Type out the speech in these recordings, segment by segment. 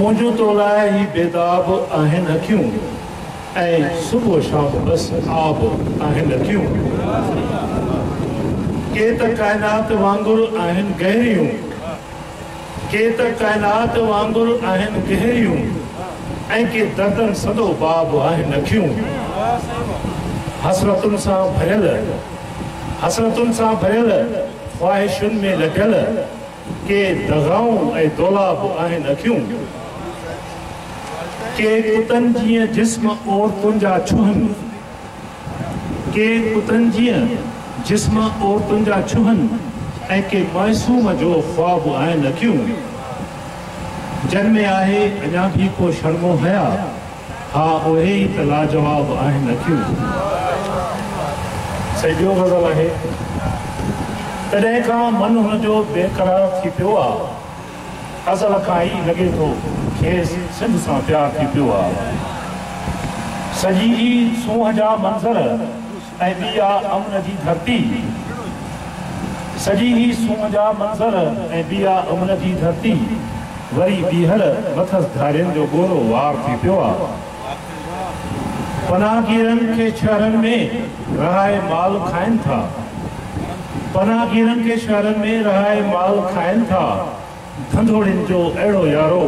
منهنجون تو لاء هي بيداب آهن اکيون ۽ صبح و شام بس آب آهن اکيون ڪي ته ڪائنات وانگر آهن گهريون ڪي ته ڪائنات وانگر آهن گهريون ۽ ڪي دردن سندو باب آهن اکيون حسرتن سان ڀريل حسرتن سان ڀريل خواهشن ۾ لٽيل ڪي دغائون ۽ دولا به آهن اکيون. ڪي ڪتن جيئن جسم عورتن جا ڇهن. ڪي ڪتن جيئن جسم عورتن جا ڇهن ۽ ڪي معصوم جو خواب آهن اکيون. جن ۾ آهي اڃا ڀي ڪو شرم و حيا. ها اهي ئي ته لاجواب آهن اکيون. سائين ٻيو غزل آهي. تڏهن کان من هن جو بي قرار ٿي پيو آ. ازل کان ئي لڳي ٿو کيس سنڌ سان پيار ٿي پيو آ. سڄي ئي سونهن جا منظر. ۽ ٻي آ امن جي ڌرتي. سڄي هي سونهن جا منظر ۽ ٻي آ امن جي ڌرتي. وري ٻيهر مٿس ڌارين جو ڳورو وار ٿي پيو آ. پناهگيرن کي شهرن ۾ رهائي مال کائن ٿا. پناهگيرن کي شهرن ۾ رهائي مال کائن ٿا. ڌنڌوڻين جو اهڙو يارو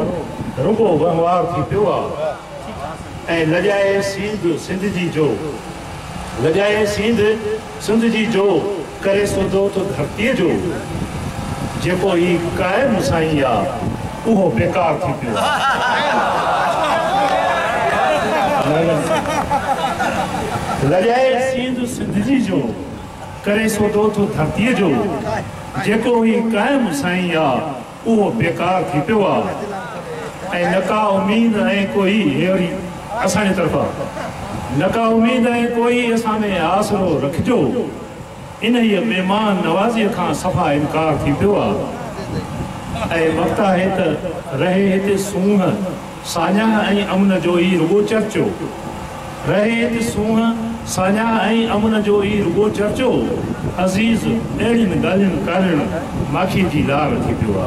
رڳو وهنوار ٿي پيو آ ۽ لڄائي سينڌ سنڌ جي جو لڄائي سينڌ سنڌ جي جو ڪري سوڌو ٿو ڌرتيء جو جيڪو هي قائم سائين آ اهو بيڪار ٿي پيو آ لڄائي سينڌ سنڌ جي جو ڪري سوڌو ٿو ڌرتيء جو، جيڪو هي قائم سائين آ، اهو بيڪار ٿي پيو آ، ۽ نه ڪا اميد ۽ ڪوئي هي وري اسان جي طرفان، نه ڪا اميد ۽ ڪوئي اسان ۾ آسرو رکجو، انهيء مهمان نوازيء کان صفا انڪار ٿي پيو آ، ۽ وقت آهي ته رهي هتي سونهن. ساڃاهه ۽ امن جو ئي رڳو چرچو رهي ته سونهن ساڃاهه ۽ امن جو ئي رڳو چرچو عزيز اهڙين ڳالهين ڪارڻ ماکي جي لار ٿي پيو آ.